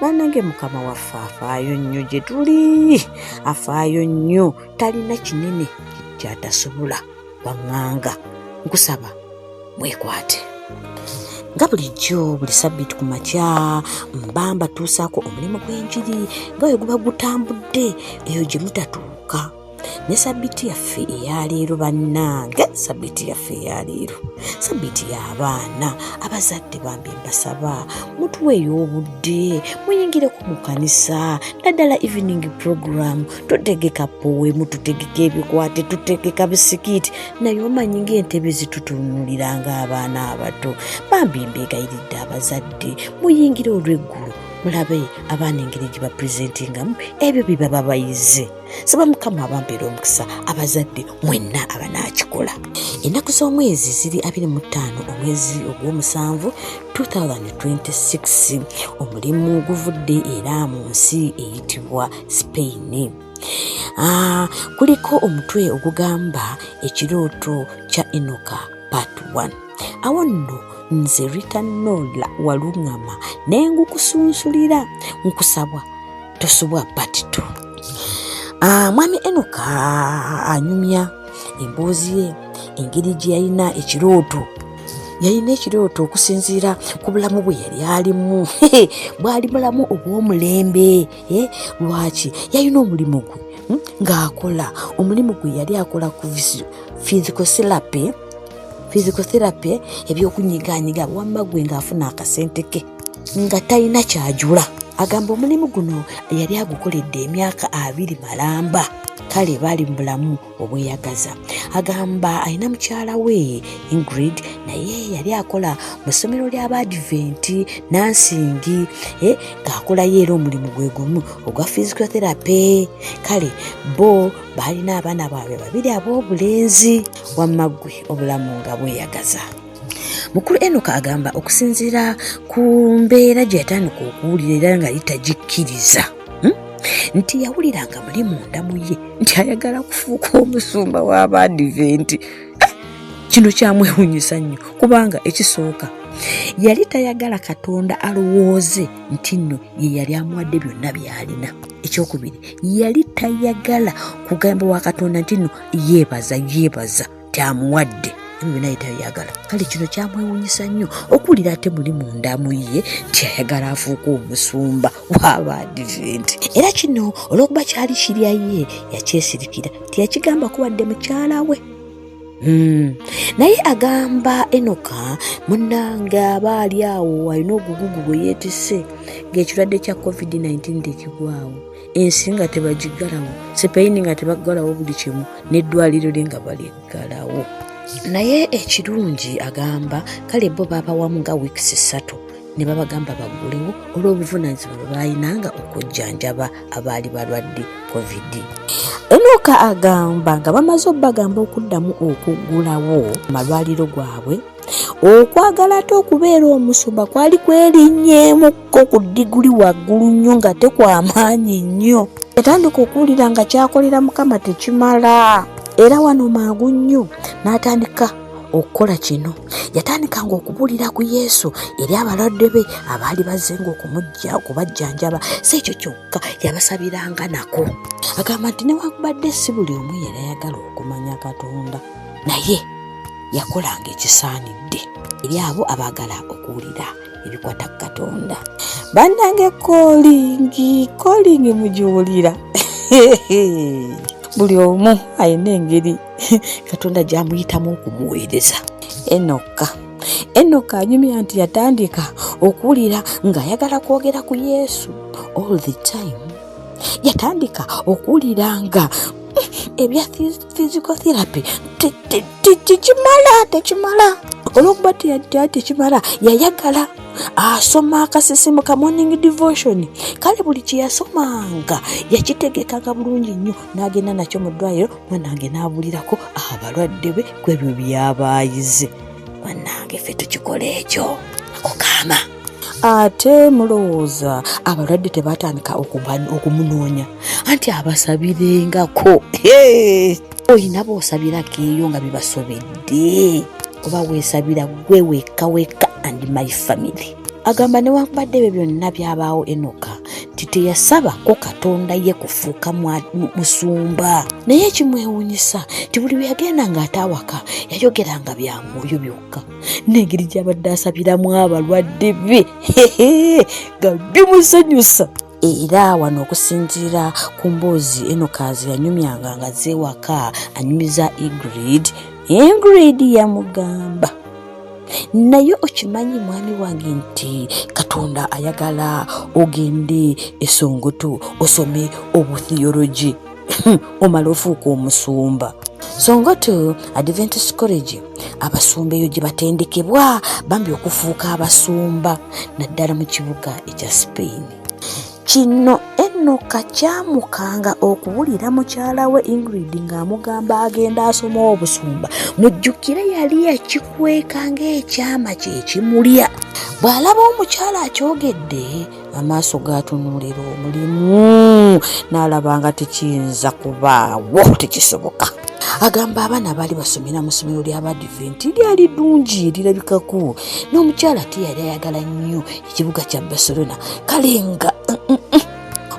banange mukama waffe afaayo nnyo gye tuli afaayo nnyo talina kinene kyatasobola baŋŋanga nkusaba mwekwate nga bulijjo buli sabbiiti ku makya mba mbatuusaako omulimu gw'enjiri nga we guba gutambudde eyo gye mutatuuka ne sabiti yaffe eyaleero bannange sabiti yaffe eyaleero sabiti y'abaana abazadde bambi mbasaba mutuweeyo obudde muyingireko mu kanisa naddala evening program tutegeka powemu tutegeka ebikwate tutegeka bisikiti naye omanyi ng'entebe zitutunulira ng'abaana abato bambi mbeegayiridde abazadde muyingire olw'eggulu mulabe abaana engeri gye bapresentingamu ebyo bye baba bayize saba mukama abampeera omukisa abazadde mwenna abanaakikola ennaku z'omwezi ziri 25 omwezi ogw'omusanvu 2026 omulimu guvudde era mu nsi eyitibwa spain ah, kuliko omutwe ogugamba ekirooto kya enoka part 1 awo nno nze rita nola waluŋama nengukusunsulira nkusabwa tosubwa part two ah, mwami enoka anyumya emboozi ye engeri gye yalina ekirooto yalina ekirooto okusinziira ku bulamu bwe yali alimu bwali bulamu obw'omulembe eh, lwaki yalina omulimu gwe hmm, ng'akola omulimu gwe yali akola ku physical therapy physical therapy ebyokunyiganyiga wamma gwe ng'afuna akasente ke nga talina kyajula agamba omulimu guno yali agukoledde emyaka abiri malamba kale baali mu bulamu obweyagaza agamba alina mukyala we ingrid naye yali akola mu ssomero ly'abaadiventi nansingi eh, ng'akolayo era omulimu gwe gumu ogwa physiotherapy kale bo baalina abaana baabwe babiri ab'obulenzi wamma ggwe obulamu nga bweyagaza mukulu enoka agamba okusinziira ku mbeera gye yatandika okuwulira era nga litagikkiriza hmm, nti yawulira nga muli munda mu ye nti ayagala kufuuka omusumba w'abaadiventi eh, kino kyamwewunyisa nnyo kubanga ekisooka yali tayagala katonda alowooze nti nno ye yali amuwadde byonna byalina ekyokubiri yali tayagala kugamba wa katonda nti nno yeebaza yeebaza kyamuwadde ebyo naye tayagala kale kino kyamwewunyisa nnyo okuwulira ate muli mundamu ye kyayagala afuuka omusumba waaba adiventi era kino olwokuba kyali kirya ye yakyesirikira teyakigamba kubadde mukyala we Hmm. naye agamba enoka munange aba ali awo alina ogugugu gwe yeetise ng'ekirwadde kya covid-19 tekigwawo ensi nga tebagigalawo sipeyini nga tebagalawo buli kimu neddwaliro lye nga baligalawo naye ekirungi agamba kale bo babawamu nga weeks ssatu ne babagamba baggulewo olw'obuvunaanyizibwa bwe baalinanga okujjanjaba abaali balwadde covid enoka agamba nga bamaze obubagamba okuddamu okuggulawo amalwaliro gwabwe okwagala ate okubeera omusumba kwali kwerinnyeemukko ku diguli waggulu nnyo nga tekwamaanyi nnyo yatandika okuwulira nga kyakolera mukama tekimala era wano mangu nnyo n'atandika okukola kino yatandikanga okubuulira ku yesu eri abalwadde be abaali bazenga okumujja okubajjanjaba si ekyo kyokka yabasabiranga nako agamba nti newakubadde si buli omu yali ayagala okumanya katonda naye yakolanga ekisaanidde eri abo abaagala okuwulira ebikwata ku katonda bannange kolingi kolingi mugiwulira buli omu alina engeri katonda gyamuyitamu okumuweereza enokka enoka anyumya nti yatandika okuwulira ng'ayagala kwogera ku yesu all the time yatandika okuwulira nga ebya physical therapy tekimala tekimala olwokuba teyadda tekimala yayagala asoma akasisimu ka morning devotion kale buli kyeyasomanga yakitegekanga bulungi nnyo n'agenda nakyo mu ddwaliro mwana wange n'abulirako abalwadde be ku ebyo byabaayize mwanange fe tukikola ekyo ako kaama ate mulowooza abalwadde tebatandika okumunoonya anti abasabirengako olina boosabirako eyo nga bibasobedde oba weesabira gwe wekka wekka and my family agamba newankubadde ebyo byonna byabaawo enoka nti teyasabako katonda ye kufuuka musumba naye ekimwewunyisa nti buli bwe yagenda ng'ate awaka yayogeranga bya mwoyo byokka n'engeri gy'abadde asabiramu abalwadde be nga bimusanyusa era wano okusinziira ku mboozi eno kaazi yanyumyanga nga zeewaka anyumiza egrid engrid yamugamba naye okimanyi mwami wange nti katonda ayagala ogende esongoto osome obuthiyologi omala ofuuka omusumba songa to adventist college abasumba eyo gye batendekebwa bambi okufuuka abasumba naddala mu kibuga ekya spain kino enoka kyamukanga okuwulira mukyala we ingrid ng'amugamba agenda asoma obusumba mujjukire yali yakikweka ng'ekyama kye kimulya bw'alaba omukyala akyogedde amaaso gaatunuulira omulimu n'alaba nga tekiyinza kubaawo tekisoboka agamba abaana baali basomera mu ssomero ly'abadiventi lyali ddungi lirabikako n'omukyala te yali ayagala nnyo ekibuga kya barcelona kale nga mm, mm, mm.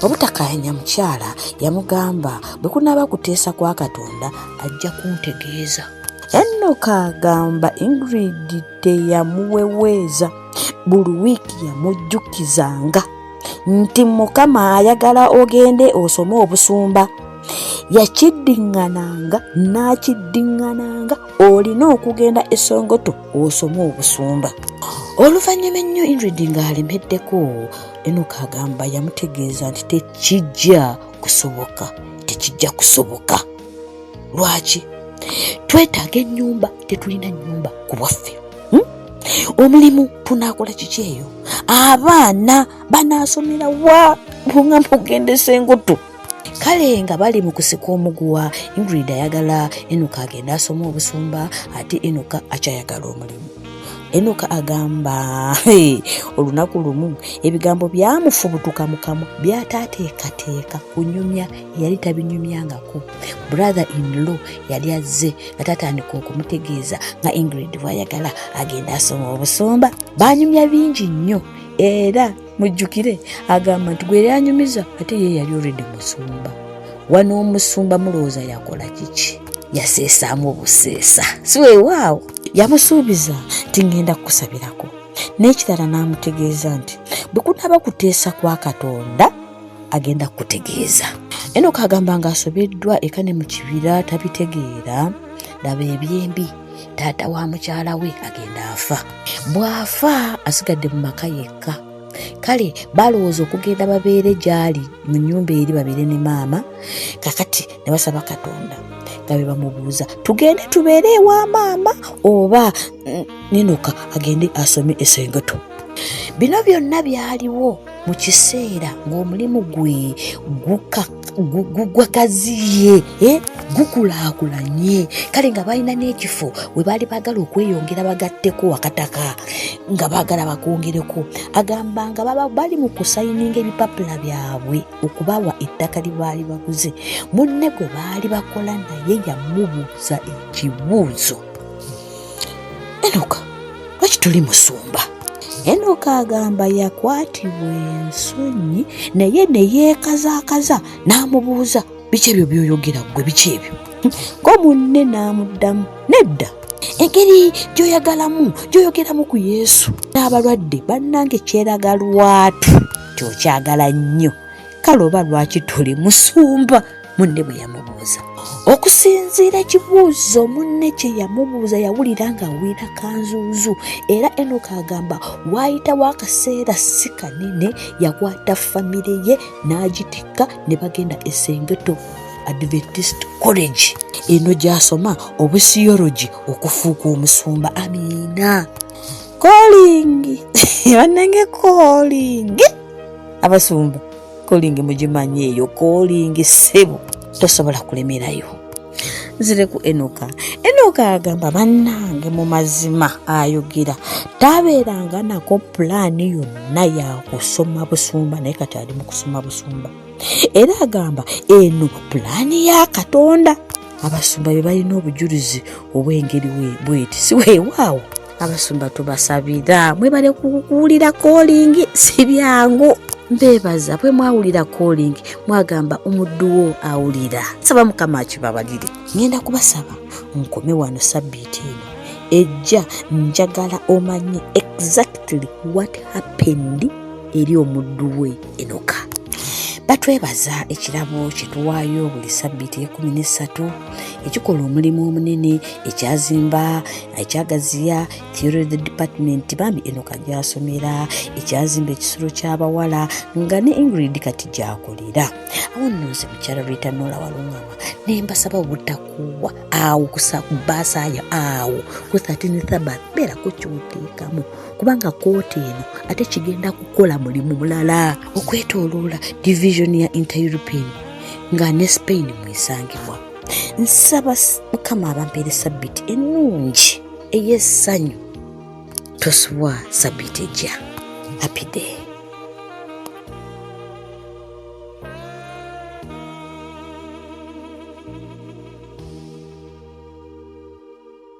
obutakayanya mukyala yamugamba bwe kunaaba kuteesa kwa katonda ajja kuntegeeza enoka agamba ingrid teyamuweweeza buli wiiki yamujjukizanga nti mukama ayagala ogende osome obusumba yakiddiŋŋananga n'akiddiŋŋananga olina okugenda esongoto osome obusumba oluvannyuma ennyo ingrid ng'alemeddeko enoka agamba yamutegeeza nti tekijja kusoboka tekijja kusoboka lwaki twetaaga ennyumba tetulina nnyumba ku bwaffe hmm? omulimu tunaakola kiki eyo abaana banaasomera wa nga mugendesa engutu kale nga bali mu kusika omuguwa ingrid ayagala enoka agenda asoma obusumba ate enoka akyayagala omulimu enoka agamba olunaku lumu ebigambo byamufubutuka mukamu byataateekateeka kunyumya yali tabinyumyangako brother in law yali azze nga tatandika okumutegeeza nga ingrid bwayagala agenda asoma obusumba banyumya bingi nnyo era mujjukire agamba nti gwe yanyumiza ate ye yali oredi musumba wano omusumba mulowooza yakola kiki yaseesaamu obuseesa siwewaawo yamusuubiza nti ngenda kukusabirako n'ekirala n'amutegeeza nti bwe kunaaba kuteesa kwa katonda agenda kukutegeeza enoka agamba nga asobeddwa eka ne mu kibira tabitegeera laba ebyembi taata wa mukyala we agenda afa bw'afa asigadde mu maka yekka kale balowooza okugenda babeere gy'ali mu nnyumba eri babeere ne maama kakati ne basaba katonda nga be bamubuuza tugende tubeere ewa maama oba mm, ninoka agende asome esengeto bino byonna byaliwo mu kiseera ng'omulimu gwe gugwakaziye eh, gukulaakulanye kale nga balina n'ekifo we baali baagala okweyongera bagatteko wakataka nga baagala bakwongereko agamba nga bali mu kusayininga ebipapula byabwe okubawa ettaka lye baali baguze munne gwe baali bakola naye yamubuuza ekibuuzo enoka lwaki tuli musumba enoka agamba yakwatibwa ensonyi naye ne yeekazaakaza n'amubuuza biki ebyo byoyogera ggwe biki ebyo ko munne n'amuddamu nedda engeri gyoyagalamu gyoyogeramu ku yesu n'abalwadde bannange kyeraga lwatu kyokyagala nnyo kale oba lwaki tuli musumba munne bwe yamubuuza okusinziira ekibuuzo munne kye yamubuuza yawulira nga awulira kanzuuzu era enoka agamba waayitawo akaseera si kanene yakwata famire ye n'agitikka ne bagenda esengeto adventist college eno gy'asoma obusiyologi okufuuka omusumba amiina kolingi banange kolingi abasumba kolingi mugimanyi eyo kolingi sebo tosobola kulemerayo nzire ku enoka enoka agamba bannange mu mazima ayogera tabeeranga nako pulaani yonna yakusoma busumba naye kati ali mu kusoma busumba era agamba eno pulaani ya katonda abasumba be balina obujulizi obw'engeri bweti siweewaawo abasumba tubasabira mwebale kuwulira kolingi si byangu mbebaza bwe mwawulira calling mwagamba omudduwo awulira saba mukama akibabalire ngenda kubasaba nkome wano sabbiiti eno ejja njagala omanye exactly what happened eri omuddu we enoka batwebaza ekirabo kyetuwaayo buli sabbiiti ekumi n'essatu ekikola omulimu omunene ekyazimba ekyagaziya theory the department bambi enoka gyasomera ekyazimba ekisulo ky'abawala nga ne ingrid kati gyakolera awo nno nze mukyala lwetanoola walungama ne mbasaba obutakuwa awo kubasaaya awo ku 13 thabat beerako kyoteekamu kubanga kooti eno ate kigenda kukola mulimu mulala okwetoloola division ya intereuropean nga ne spain mwesangibwa nsaba mukama abampeere sabbiti ennungi ey'essanyu tosubwa sabbiti ejja happy day